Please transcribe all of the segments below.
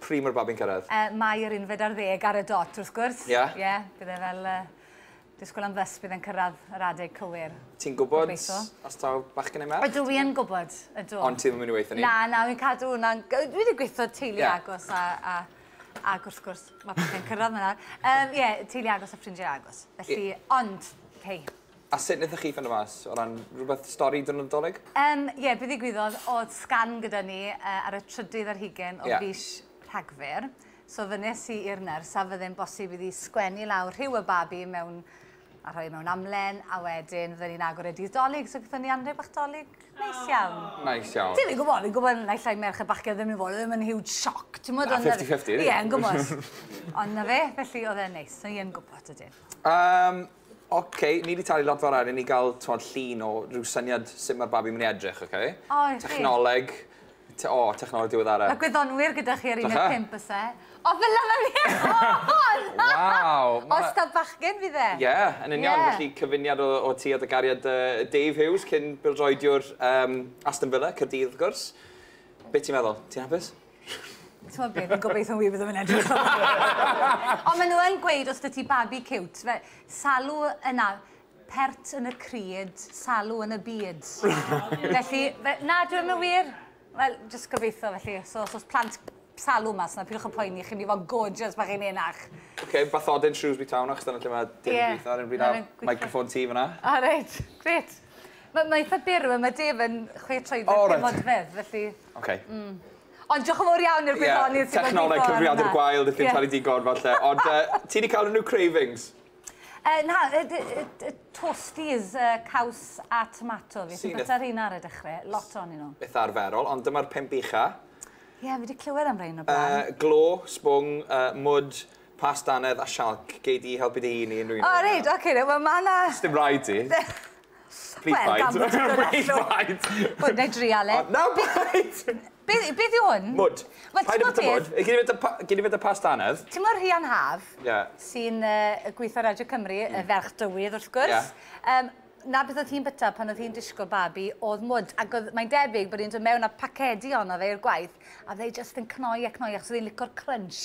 Pryd mae'r babi'n cyrraedd? Yy, Mai yr unfed ar ddeg ar y dot, wrth gwrs. Ie? Ie, bydd e fel yy, disgwyl am fys, bydd e'n cyrraedd yr adeg cywir. Ti'n gwybod Gobeithio. os taw bachgen neu merch? Ydw i yn gwybod, ydw. Ond ti ddim yn mynd i weithio ni? Na, na, fi'n cadw hwnna'n... Dwi wedi gweithio teulu yeah. agos a, a ac wrth gwrs mae pethau'n cyrraedd yna. Um, ie, yeah, teulu agos a ffrindiau agos. Felly, yeah. ond, hei, A sut wnaethoch chi ffindo mas? O ran rhywbeth, stori dy Nadolig? Yym, ie, be ddigwyddodd, o'dd sgan gyda ni yy ar y trydydd ar hugen o fis Rhagfyr, so fynnes i i'r nyrs a fydde'n bosib iddi sgwennu lawr rhyw y babi mewn, a rhoi e mewn amlen, a wedyn fydden ni'n agor e dydd Dolig, so gaethon ni anrheg bach Dolig neis iawn. Neis iawn. Ti fi'n gwybod, fi'n gwybod naill ai merched bach gyda ni fod, oedd e ddim yn huge shock, timod? Na, fifty fifty ydi? Ie, yn gwybod. Ond 'na fe, felly oedd e'n neis, so ie'n gwybod ydyn. Yym, Ok, ni 'di talu lot fawr arian i ni ga'l t'mod llun o ryw syniad sut ma'r babi myn' i edrych ok? O reit. Technoleg te- o technoleg diweddara. Ma' gwyddonwyr gyda chi ar un ne' pump o's e? O fel yma fi yn! Waw! Os da bachgen fydd e. Ie yn union felly cyfuniad o o ti a dy gariad yy Dave Hughes cyn bêl-droediwr yym Aston Villa Caerdydd wrth gwrs. Be' ti'n meddwl? Ti'n hapus? T'mod be, fi'n gobeithio wir byddwn i'n edrych fel 'na. Ond maen nhw yn gweud os 'da ti babi ciwt, fe- salw yna, pert yn y crud, salw yn y byd. Felly, fe- na, dyw e ddim yn wir. Wel, jyst gobeithio felly. So os oes plant salw mas 'na, peidiwch â poeni, chi'n mynd i fod yn gorgeous pan chi'n henach. Ok, bathodyn Shrewsbury Town achos dyna lle mae Dave yn gweithio ar hyn o bryd a'r microphone tee fan'na. O reit, grêt. Mae eitha byr yma, mae Dave yn chwe troedfedd, pum odfedd, felly... Oce. Hmm. Ond diolch yn fowr iawn i'r gwyddonydd sy wedi bod yn... Ie, technoleg cyfrifiadur gwael, does dim talu digon falle. Ond yy, ti 'di cael unrhyw cravings? Uh, na, y, y, y, toasties, uh, caws a tomato fi. Ti'n bita rheina ar y dechrau, lot o'n nhw. Beth arferol, ond dyma'r pimp ucha. Ie, yeah, fi wedi clywed am rhain o blaen. Uh, glo, sbwng, uh, mwd, pastanedd a sialc. Gei di helpu dy hun i unrhyw un. O, oh, reid, oce, okay, mae yna... Sdim rhaid ti. Pryd faint? Wel, gan bod ti'n dod allan... Pryd faint? Wel, na i drial e. O, na faint! Beth, beth yw hwn? Mwd. Wel, ti'n gwybod beth? Paid â bwyta mwd. Gei di fyta past anedd. Ti'n gwybod Rhian Haf... Ie. ...sy'n yy gweithio ar Radio Cymru, y ferch dywydd, wrth gwrs? Ie. Yym, 'na beth oedd hi'n byta pan oedd hi'n disgwyl babi, oedd mwd. Ac oedd... mae'n debyg bod hi'n dod mewn â pacedi ohono fe i'r gwaith, a fydde hi jyst yn cnoi a cnoi, achos oedd hi'n licio'r crunch.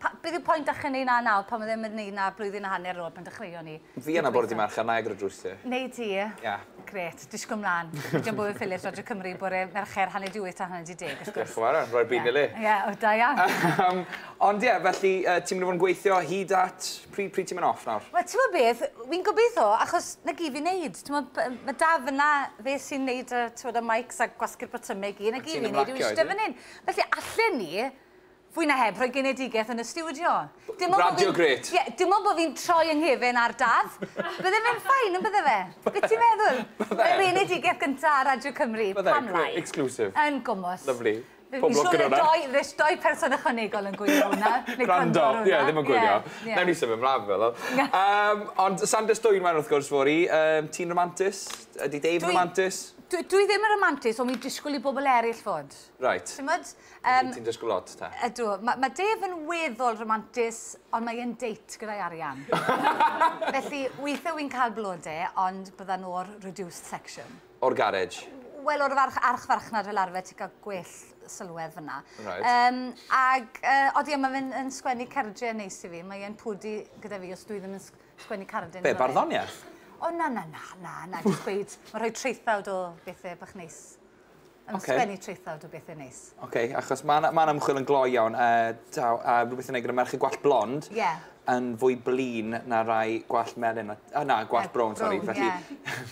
Pa, beth yw point ache neud na nawr pan ma ddim yn neud na blwyddyn a hanner nôl pan dechreuon ni? Fi yna bore dydd Mercher, nai agor y drws ti. Neu ti? Ia. Grêt, disgwl mlan. Fi am bod yn Phillips Radio Cymru bore Mercher hanner 'di wyth tan hanner 'di deg wrth gwrs. Diolch yn fawr iawn, roi'r byd yn ei le. Ie, o da iawn. Yym, ond ie, felly yy ti'n mynd i fod yn gweithio hyd at, pryd pryd ti'n mynd off nawr? Wel t'mod beth, fi'n gobeitho achos 'na gyd fi'n neud, t'mod b- ma' Daf yna, fe sy'n neud y t'mod y mics a gwasgu'r botymau i gyd, 'na gyd fi'n neud yw iste fan 'yn. Felly allen i Fwy na heb, rhoi genedigaeth yn y stiwdio. Radio grêt. Ie, dim ond bod fi'n troi yng nghefen ar Daf. Bydde fe'n ffain, yn bydde fe? Be ti'n meddwl? Bydde. Y genedigaeth gyntaf ar Radio Cymru. Bydde, grêt, exclusive. Yn gwmws. Lovely. Pob lwc gyda hwnna. Fi'n siŵr fydd doi person ychwanegol yn gwylio hwnna. Gwrando, ie, ddim yn gwylio. Newn ni symud mlaen, fel o. Ond Sanders Dwynwen, wrth gwrs, fory. Ti'n romantus? Ydy Dave romantus? Dwi ddim yn romantus, ond fi'n disgwyl i bobl eraill fod. Reit. Ti'n gwybod? Um, Ti'n dysgu lot, ta? Ydw. Mae ma Dave yn weddol romantis, ond mae e'n date gyda'i arian. Felly, weithiau wy'n cael blode, ond byddan o'r reduced section. O'r garej? Wel, o'r farch, archfarchnad fel arfer, ti'n cael gwell sylwedd fyna. Right. Um, ag, uh, odi, mae fe'n yn sgwennu cerdre yn neis i fi. Mae e'n pwdi gyda fi os dwi ddim yn sgwennu cardyn. Be, barddoniaeth? O, na, na, na, na, na, jyst gweud, mae rhoi traethawd o bethau bach neis. Yn okay. sgwennu traethawd o bethau neis. Oce, okay, achos mae'n ma ymchwil yn gloi iawn, a, a, a rhywbeth yn ei gyda merched gwallt blond, yeah. yn fwy blin na rai gwallt melyn, a, na, gwallt brown, sori. Felly, yeah.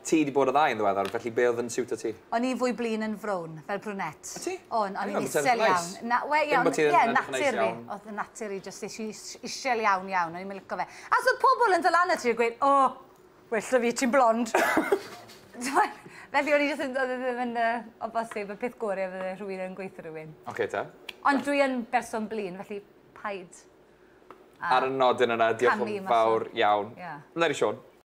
ti wedi bod o ddau yn ddiweddar, felly be oedd yn siwt o ti? O'n i fwy blin yn frown, fel brwnett. O ti? O'n, o'n i'n isel iawn. Na, we, iawn, ie, yeah, natur fi. Oedd y natur i, jyst eisiau isel iawn iawn, o'n i'n mynd licio fe. As oedd pobl yn dylan y ti, gweud, o, oh, Well 'da fi, ti'n blond! T'mod? Felly o'n i jyst yn... Oedd e ddim yn yy o bosib, y peth gore fydde rhywun yn gweutho rhywun. Ocê te. Ond dwi yn berson blin, felly paid â... Ar y nodyn yna, diolch yn fawr iawn. Ie. Leni Siôn.